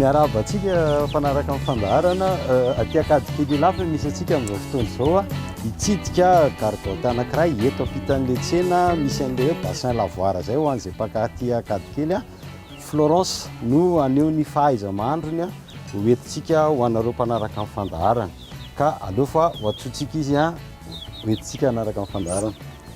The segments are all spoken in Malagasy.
Miarahaba antsika fanaraka amin'ny fandaharana aty Ankadikely Ilafy misy antsika amin'izao fotoana izao hitsidika gargotte anankiray eto ampitan'ilay tsena misy an'ilay hoe bassin lavoir izay ho an'izay mpaka aty Ankadikely. Florence no haneho ny fahaiza-mahandrony ho entintsika ho anareo mpanaraka amin'ny fandaharana ka aleo fa ho antsointsika izy ho entintsika hanaraka amin'ny fandaharana.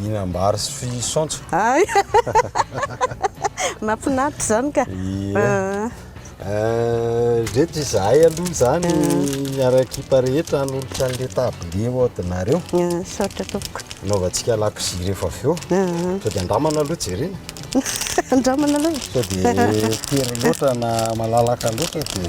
Hinam-bary sy fisaontsy. Ay! Mahafinaritra izany ka. Ie. Ireto izahay aloha izany miara-ekipa rehetra hanolotra an'ilay tablier ho anareo. Misaotra tompoko. Hanaovantsika lakozia rehefa avy eo. Sao dia andramana aloha jerena. Andramana aloha e. Sao dia tery loatra na malalaka loatra dia.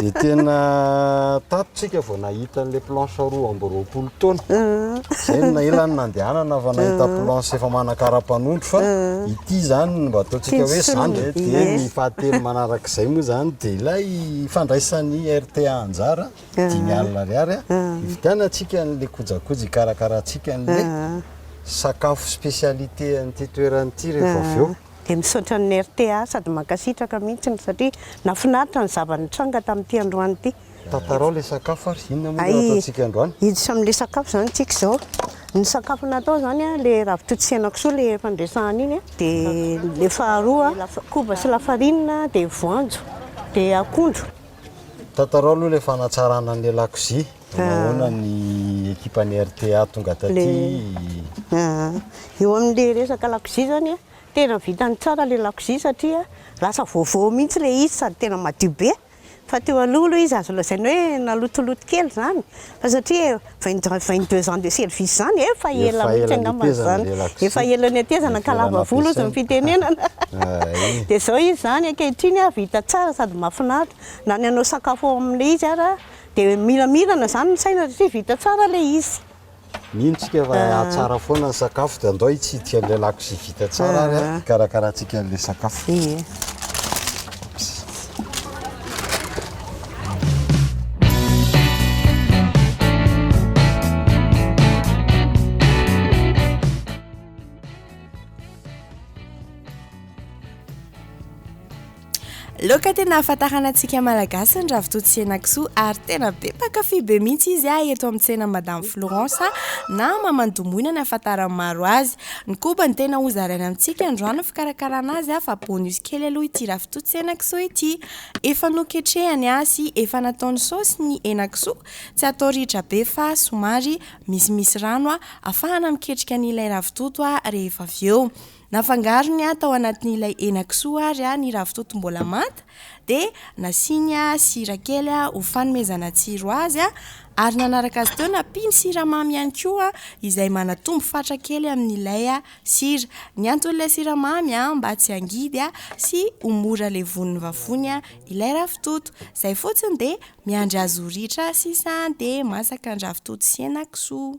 Dia tena tato tsika vao nahita an'ilay planche roa amby roapolo taona. Izay no nahela ny nandehanana fa nahita planche efa manakara-panondro fa ity izany mba ataontsika hoe izany. Dia ny fahatelo manarak'izay moa izany dia ilay fandraisan'ny RTA anjara, dimy alina ariary, hividianantsika an'ilay kojakoja hikarakarantsika an'ilay sakafo spécialité an'ity toerana ity rehefa avy eo. Dia misaotra ny rta sady mankasitraka mihitsy satria nafinaritra ny zava nitranga tamin'ity androany ity. Tantarao ilay sakafo ary inona moa no ataontsika androany? Hiditra amin'ilay sakafo izany isika izao. Ny sakafo natao izany ilay ravitoto sy henakisoa ilay efa niresahana iny, dia ilay faharoa koba sy lafarinina, dia voanjo, dia akondro. Tantarao aloha ilay fanatsarana ny lakozia. Nahoana ny ekipan'ny rta tonga taty? Eo amin'ilay resaka lakozia izany, tena vitany tsara ilay lakozia satria lasa vaovao mihitsy ilay izy sady tena madio be. Fa teo aloha aloha izy azo lazaina hoe nalotoloto kely izany fa satria vingt vingt deux ans de service izany efa ela mihitsy angamba izany, efa ela nihatezana ka lava volo hozy ny fitenenana. Dia izao izy izany ankehitriny vita tsara sady mahafinaritra. Na ny hanao sakafo ao amin'ilay izy ary. Dia miramirana izany ny saina satria vita tsara ilay izy. Mino tsika fa hahatsara foana ny sakafo dia andao hitsidika an'ilay lakozia vita tsara ary an, hikarakarantsika an'ilay sakafo. Ie. Laoka tena ahafantarana antsika malagasy ny ravitoto sy henakisoa ary tena be mpankafy be mihitsy izy ah eto amin'ny tsena Madame Florence na Mamandomoina ny ahafantaran'ny maro azy. Ny koba no tena hozaraina amintsika androany ny fikarakarana azy ah fa bonus kely aloha ity ravitoto sy henakisoa ity. Efa noketrehany ah sy efa nataony saosy ny henakisoa, tsy atao ritra be fa somary misimisy rano ah afahana miketrika an'ilay ravitoto ah rehefa avy eo. Nafangarony tao anatin'ilay henakisoa ary ny ravitoto mbola manta dia nasiany sira kely ho fanomezana tsiro azy ary nanaraka azy teo nampiany siramamy ihany koa izay manatombo fatra kely amin'ilay sira. Ny anton'ilay siramamy mba tsy hangidy sy ho mora levon'ny vavony ilay ravitoto. Izay fotsiny dia miandry azy ho ritra sisa dia masaka ny ravitoto sy henakisoa.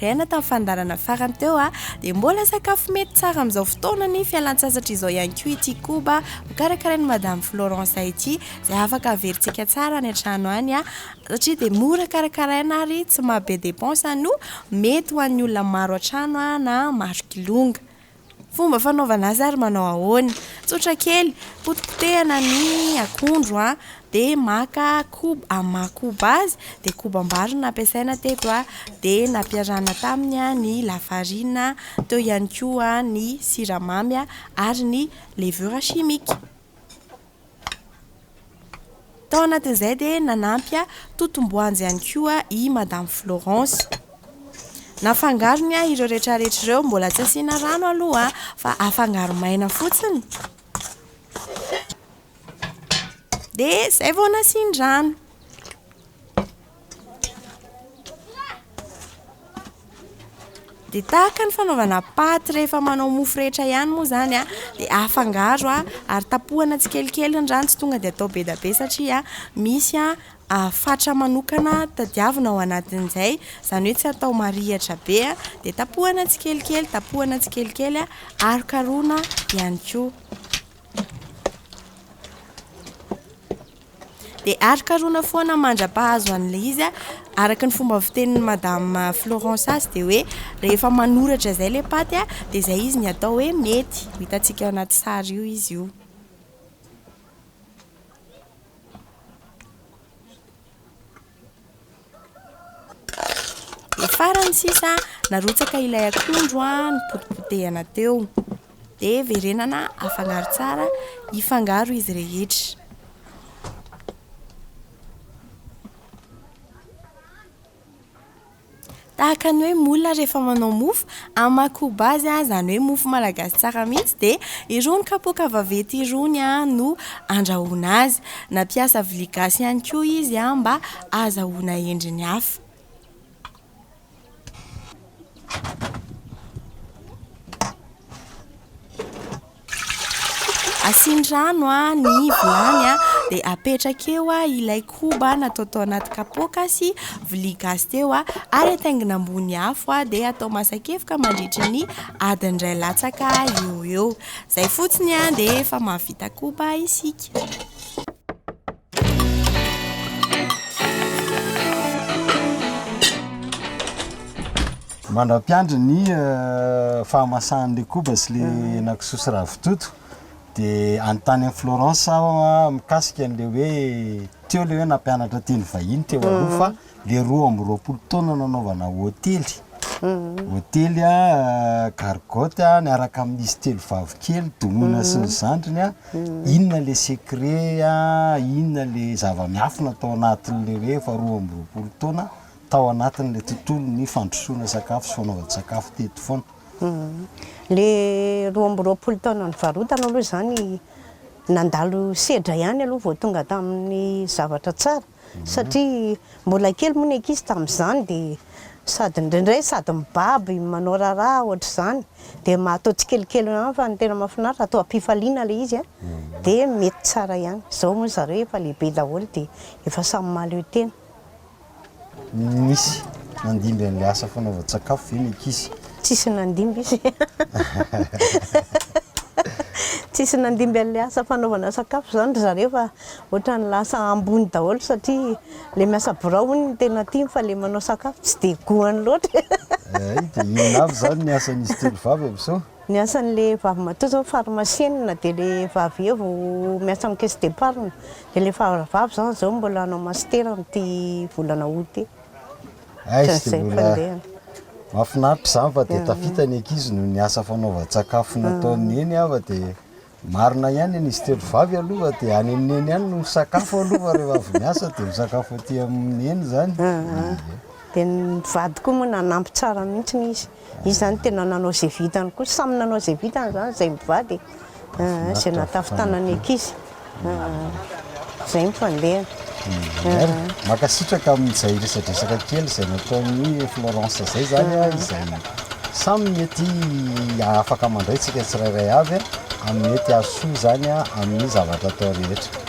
Rehaina tamin'ny fandaharana farany teo a, dia mbola sakafo mety tsara amin'izao fotoana ny fialantsasatra izao ihany koa ity koba hokarakarain'i Madame Florence ity, izay afaka averintsika tsara any an-trano any a, satria dia mora karakaraina ary tsy maha be dépense no mety ho an'ny olona maro an-trano na maro kilonga. Fomba fanaovana azy ary manao ahoana? Tsotra kely, potipotehana ny akondro a, dia maka koba, amin'ny maha koba azy, dia kobam-bary no nampiasaina teto a, dia nampiarahana taminy ny lafarina, teo ihany koa ny siramamy ary ny levure chimique. Tao anatin'izay dia nanampy totom-boanjo ihany koa i Madame Florence. Nafangarony ireo rehetrarehetra ireo, mbola tsy asiana rano aloha fa afangaro maina fotsiny. Dia izay vao nasian-drano. Dia tahaka ny fanaovana paty rehefa manao mofo rehetra ihany moa izany a, dia afangaro a, ary tapohana tsikelikely ny rano, tsy tonga dia atao be dia be satria misy a fatra manokana tadiavina ao anatin'izay, izany hoe tsy atao marihatra be a, dia tapohana tsikelikely, tapohana tsikelikely a, arokarohina ihany koa. Dia arokaroina foana mandra-pahazo an'ilay izy a, araka ny fomba fitenin'i madame Florence azy dia hoe rehefa manoratra izay ilay paty a, dia izay izy ny atao hoe mety, ho hitantsika ao anaty sary io izy io. Dia farany sisa, narotsaka ilay akondro nopotipotehana teo. Dia verenana afangaro tsara, hifangaro izy rehetra. Tahaka ny hoe moule rehefa manao mofo, amin'ny maha koba azy, izany hoe mofo malagasy tsara mihitsy, dia irony kapoaka vaventy irony no andrahoina azy. Nampiasa vilia gasy ihany koa izy mba. ahazahoana endriny hafa. Asiany rano ny vilany dia apetraka eo ilay koba natao tao anaty kapoaka sy vilia gasy teo ary ataingina ambony afo dia atao masakefoka mandritra ny adiny iray latsaka eo eo. Izay fotsiny dia efa mahavita koba isika. mandra-piandry ny euh, fahamasahan'ilay koba sy le henakisoa sy ravitoto dia anontany an'i Florence aho mikasika an'ilay hoe teo ilay hoe nampianatra teny vahiny teo aloha fa le roa amby roapolo taona nanaovana hotely hotely a gargotte a niaraka amin'izy telo vavikely domina sy ny zandriny a inona le secret a inona le zava-miafina tao anatin'le rehefa roa amby roapolo taona tao anatin'le tontolon'ny fandrosoana sakafo sy fanaovana sakafo teto foana le roa amby roapolo taona nivarotana aloha zany nandalo sedra ihany aloha vao tonga tamin'ny zavatra tsara satria mbola kely moa ny ankizy tamin'izany dia sady indraindray sady mibaby manao raharaha ohatr'izany dia mba atao tsikelikely ihany fa ny tena mahafinaritra atao am-pifaliana ilay izy dia mety tsara ihany. Izao moa ry zareo efa lehibe daholo dia efa samy mahaleo tena. Nisy nandimby an'ilay asa fanaovan-tsakafo ve ny ankizy? Tsisy nandimby izy Tsisy nandimby an'ilay asa fanaovana sakafo izany ry zareo fa Ohatrany lasa ambony daholo satria le miasa birao hono no tena tiany fa le manao sakafo tsy dia goany loatra e. Hay dia inona avy izany ny asan'izy telo vavy amin'izao? Ny asan'le vavimatoa izao pharmacienne dia le vavy eo vao miasa amin'ny caisse d'épargne. Dia le faravavy izany izao mbola hanao master amin'ity volana aout ity. Hay tsy dia mbola, mahafinaritra izany fa dia tafita ny ankizy noho ny asa fanaovan-tsakafo nataon'i Neny aho fa dia Marina ihany an izy telo vavy aloha dia any amin'ny neny any no misakafo aloha fa rehefa avy miasa dia misakafo aty amin'ny neny izany. Dia ny vady koa moa nanampy tsara mihitsy izy. Izy izany tena nanao izay vitany koa, samy nanao izay vitany izany izahay mivady e. Izay nahatafintanan'ny ankizy. Izay ny fandehany. Mankasitraka amin'izay resadresaka kely izay nataon'i Florence izay zany a, izay samy mety afaka mandray tsika tsirairay avy amin'ny mety hahasoa izany a amin'ny zavatra atao rehetra.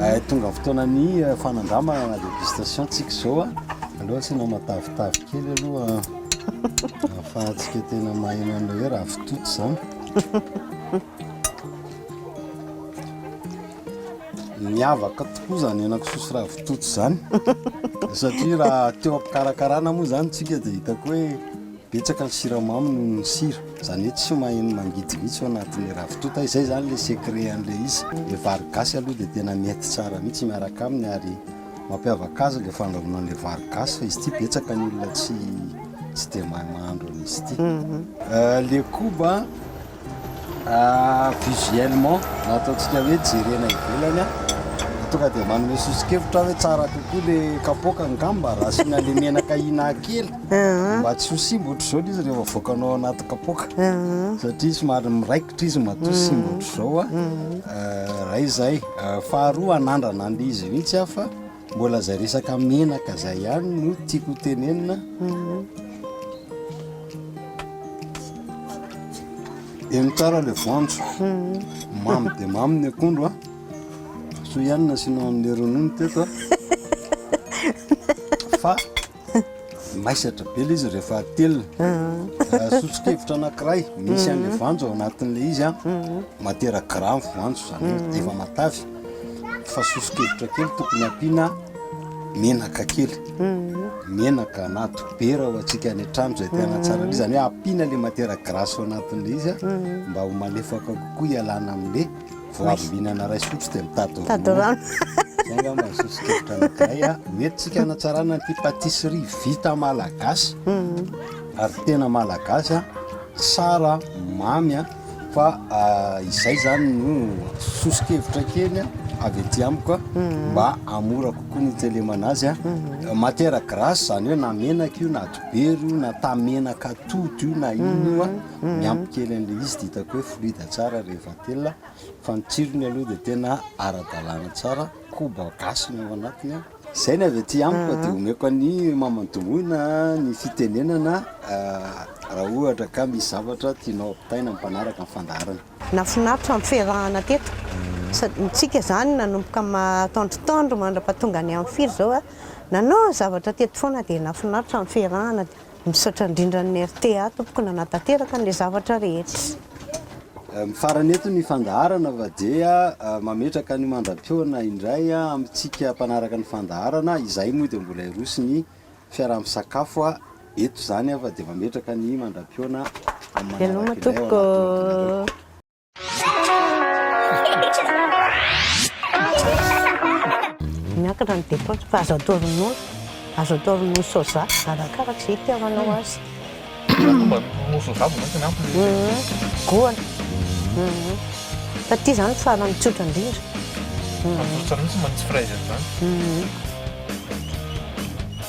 Hay tonga fotoana ny fanandramana dégustation tsika zao a. Aleo asiana matavitavy kely aloha ahafahantsika tena maheno an'ilay hoe ravitoto izany. Miavaka tokoa izany henakisoa sy ravitoto izany satria raha teo am-pikarakarana moa izany tsika dia hitako hoe Betsaka ny siramamy noho ny sira, izany hoe tsy maheno mangidy mihitsy ao anatin'ilay ravitoto, izay izany ilay secret an'ilay izy. Ilay vary gasy aloha dia tena mety tsara mihitsy miaraka aminy ary mampiavaka azy ilay fandrahoana an'ilay vary gasy fa izy ity betsaka ny olona tsy tsy dia mahay mahandro an'izy ity. Ilay koba Visuellement na ataontsika hoe jerena ivelany a, tonga dia manome soso-kevitra aho hoe tsara kokoa ilay kapoaka angamba raha asiana an'ilay menaka ina kely mba tsy ho simba ohatr'izao ilay izy rehefa avoakanao ao anaty kapoaka satria somary miraikitra izy matoa tsy simba ohatr'izao a, iray izay. Faharoa hanandrana an'ilay izy mihitsy aho fa. Mbola zay resaka menaka zay ihany no tiako ho tenenina. Eny tsara ilay voanjo. Mamy dia mamy ny akondro a. Soa ihany nasianao an'ilay ronono teto a. Fa. Maisatra be ilay izy rehefa atelina. Sosokevitra anankiray, misy an'ilay voanjo ao anatin'ilay izy an, matière gras ny voanjo, izany hoe efa matavy, fa sosokevitra kely tokony ampiana menaka kely, menaka na dobera ho antsika any an-trano izay te hanatsara an'ilay izy, izany hoe ampiana ilay matière grasse ao anatin'ilay izy an, mba ho malefaka kokoa hialana amin'ilay. Vao avy mihinana raisotro dia mitady ronono. Mitady ronono. Izay angamba ny soso-kevitra anankiray a. Ho entintsika hanatsarana ity pâtisserie vita malagasy ary tena malagasy a, tsara, mamy a, fa izay izany no soso-kevitra kely avy aty amiko a, mba hahamora kokoa ny hitelemana azy a. Matière grasse izany hoe na menaka io na dibera io na tamenak'atody io na inona io a, miampy kely an'ilay izy dia hitako hoe fluide tsara rehefa. Tena fa ny tsirony aloha dia tena ara-dalàna tsara, koba gasy no ao anatiny an. Izay ny avy aty amiko dia omeko an'i maman'i Domoina ny fitenenana raha ohatra ka misy zavatra tianao ampitaina amin'ny mpanaraka ny fandaharana. Nahafinaritra ny fiarahana teto, sady ny tsika izany nanomboka mataondrotaondro mandra-pahatonga ny amin'ny firy izao, nanao zavatra teto foana dia nahafinaritra ny fiarahana. Misaotra indrindra ny rta tompoko nanatanteraka an'ilay zavatra rehetra. Mifarana eto ny fandaharana fa dia mametraka ny mandra-pihaona indray amintsika mpanaraka ny fandaharana. Izahay moa dia mbola hiroso ny fiaraha-misakafo eto izany fa dia mametraka ny mandra-pihaona amin'ny manaraka indray ao anatin'ny tonon'anareo. Miankina ny dépense fa azo atao ronono, azo atao ronono soja arakaraka izay itiavanao azy. Goana. Fa ity izany farany tsotra indrindra. Atsofoka mihitsy manitsy fraise izany.